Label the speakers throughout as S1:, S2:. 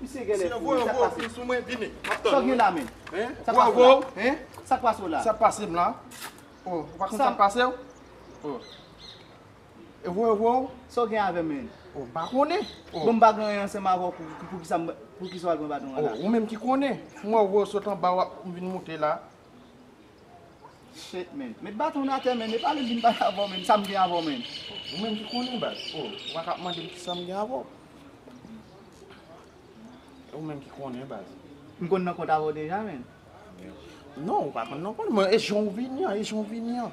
S1: Misye genlè fou wi, sak pase?
S2: Sa w gen la
S1: menm?
S2: Sak pase w la? Sak
S1: pase m la?
S2: Ou pa konn sak pase w? E voye w voye w? Sa w gen avè m
S1: menm? M pa konnen.
S2: Bon m pa gen anyen
S1: ansanm avè w poukisa m poukisa w al pran baton an la? Ou menm ki konnen.
S2: M wè w voye w sot anba w ap vin monte la. Shit
S1: man. Met baton w atè man. Epa li vin pale avè w man. Sa m gen avè w man. Ou menm ki konnen
S2: baz. Oh ou pa ka ap mande m kisa m gen avè w. E ou menm ki konnen baz. M konn nan kont avè
S1: w deja man. Non
S2: ou pa konn nan kont. E jan w vini an. E jan w vini an.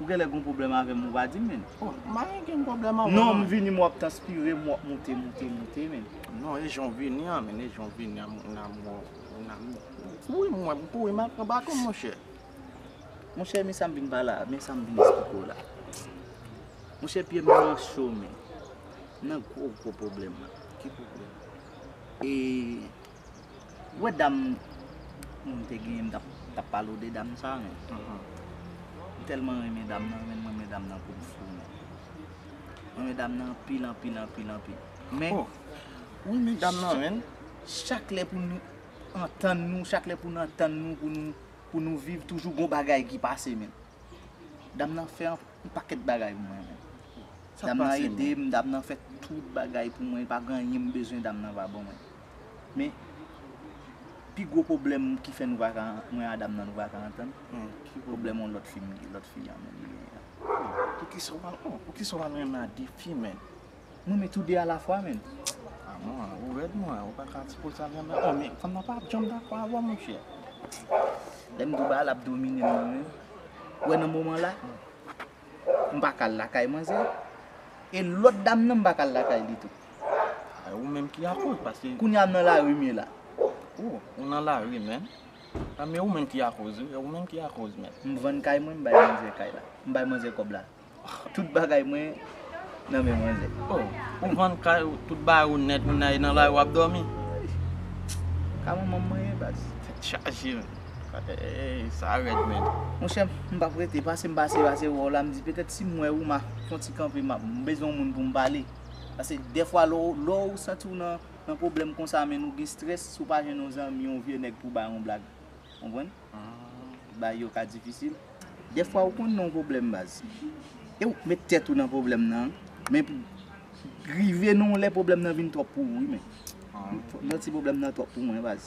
S1: Ou genlè gon pwoblèm avèm ou pa dim menn. Mwen gen yon
S2: pwoblèm avèw. Non m vini m wap
S1: tanspirem wap moute moute moute menn. Non e janw
S2: vini an menn e janw vini an moun amò moun amò. Ou kouri m wèm ou kouri mal pran batonm monchè. Monchè
S1: men sam vin pala men sam vin esplikew la. Monchè pyem nan cho menn. Nan gwo gwo pwoblèm. Ki pwoblèm?
S2: E.
S1: Wè dam mwen mte genyen m tap palo de dam sa men m telman renmen dam nan menm m renmen dam nan poum fou menm m renmen dam nan anpil anpil anpil anpil men ou
S2: renmen dam nan menm chak lè pou
S1: nou antann nou chak lè pou nou antann nou pou nou pou nou viv toujou gon bagay ki pase menm dam nan fè anpil pakèt bagay pou mwen menm dam nan edem dam nan fè tout bagay pou mwen pa gen anyen m bezwen dam nan pa ban mwen. Men, pi gwo pwoblèm ki fè nou pa ka, mwen a dam nan nou pa ka antann, se pwoblèm yon lòt fi, lòt fi a menm li genyen an.
S2: Poukisa w pa renmen a de fi menn? Mwen renmen tou de
S1: a la fwa menn. A non,
S2: ou rèd mwen, ou pa ka di pou sa menm. O men, fanm nan pa ap janm dakò avè w monchè.
S1: Lè m di w bagay la ap domine m nan menm, ou wè nan moman la, m pa ka al lakay manzè e lòt dam nan m pa ka al lakay li tou. Ay ou menm
S2: ki akoz paske. Kounya m nan lari m ye la.
S1: Oh ou
S2: nan lari menm. An men ou menm ki akoz wi, ou menm ki akoz menm. M vann kay mwen
S1: m bay manzè kay la. M bay manzè kòb la. Tout bagay mwen nan men manzè. Oh ou vann
S2: kay ou, tout bagay ou nèt ou nan e nan lari w ap dòmi?
S1: Ka manman m mwen ye baz. Tèt chaje menm.
S2: Eeyy sa red menn. Monchè m pap
S1: rete pase m pase pase wè w la m di petèt si m wè Rooma fon ti kanpe map m bezwen yon moun pou m pale pase dèfwa lè w lè w santi w nan nan pwoblèm konsa menn ou gen strès si w pa jwenn yon zanmi yon vye nèg pou w bay yon blag konprann bagay yo ka difisil dèfwa ou konn nan yon pwoblèm baz e w met tèt ou nan pwoblèm nan men pou rive nan yon lè pwoblèm nan vin twòp pou ou wi menn m santi pwoblèm nan twòp pou mwen baz.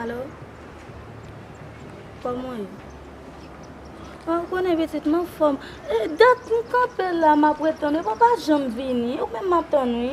S3: Alo Koman ye? Ou konnen pitit m anfòm. E dat m kanpe la m ap ret tann ou. Ou pa janm vini. Ou menm m ap tann ou wi.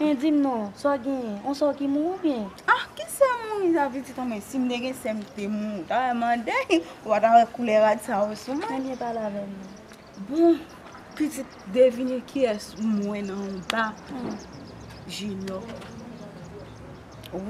S4: Hein dim non, sa w
S3: genyen? On sè w ki mouri oubyen? Ah ki sè
S4: mouri sa pitit an men sim te gen sè m te mouri ou ta wè mande ou pa ta wè koulè rad sa yo sou mwen. Ebyen pale avè m
S3: non. Bon
S4: pitit devine kiyès m wè nan yon ba pou Jinyò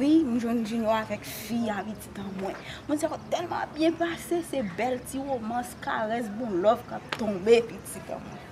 S4: wi m jwenn Jinyò avèk fi a pitit an mwen. Mwen sa yo tèlman ap byen pase se bèl ti romans karès bon love k ap tonbe pitit an mwen.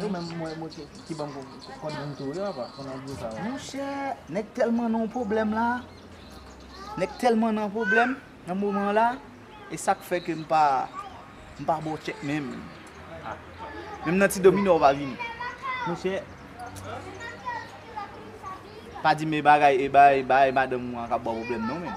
S1: Yo menm mwen mwen ki banm kòd moun tou wi apa pou nan di sa. Monchè nèg tèlman nan yon pwoblèm la, nèg tèlman nan pwoblèm nan moman la e sak fè ke m pa m pa ba w tchèk menm. Menm nan ti dominò w pa vini. Monchè pa di m e bagay e bay bagay madanm ou an kap ba w pwoblèm non menm.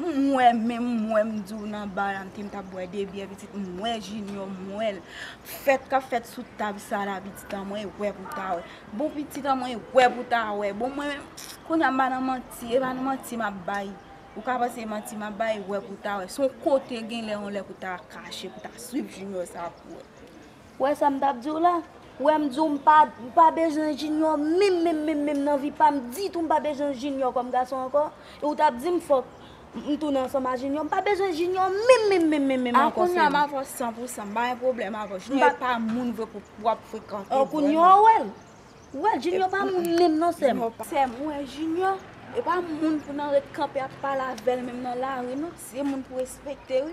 S4: M wè menm m wè m di w nan bar la m te m tap bwè 2 byè pitit m wè Junior m wè l fèt kap fèt sou tab sa la pitit an mwen wè pou ta wè bon pitit an mwen wè pou ta wè bon mwen menm kounya m pa nan manti e pa nan manti map bay ou ka panse manti map bay wè pou ta wè son kote genlè yon lè pou ta kache pou ta swiv Junior sa pou wè. Ou wè sa m tap diw la?
S3: Ou wè m diw m pa m pa bezwen Junior minm minm minm minm nan vi pam ditou m pa bezwen Junior kòm gason ankò e ou tap dim fòk m tounen ansanm a Junior m pa bezwen Junior minm minm minm minm minm ankò frèm. A kounya m avè w san pou
S4: san m pa gen pwoblèm avè w Junior e pa moun vre pou wap frekante vre non. Kounya ou wè l?
S3: Ou wè l Junior pa moun minm non sèm. Sèm ou wè
S4: Junior e pa moun pou nan ret kanpe ap pale avè l minm nan lari non se moun pou respekte wi.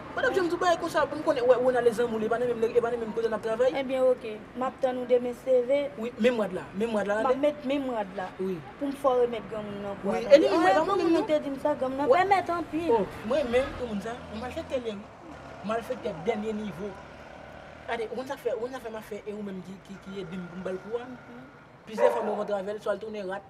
S3: Ou
S5: tap janm di yon bagay konsa pou m konnen ou wè Ronald e zanmi w epa nan menm lè epa nan menm kote nap travay. Ebyen ok map
S3: tann ou de men CV. Wi menm rad la menm
S5: rad la tande. Map met menm
S3: rad la wi. Poum fè w remèt
S5: granmoun
S3: nan kou a tande. Wi e li menm granmoun
S5: nan. Ou te dim sa
S3: granmoun nan pèmèt anpil. Oh m renmen granmoun
S5: sa yon malfektè li ye wi. Malfektè dènye nivo. Gade ou konn sak fè ou konn sak fè map fè e ou menm ki ki ede m pou m bal kou a. Plizyè fwa m rankontre avèl swa l tounen rat.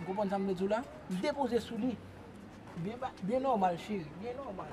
S5: Ou konprann sa m vle di w la? Depoze sou li. Byen ba, byen nòmal cheri, byen nòmal.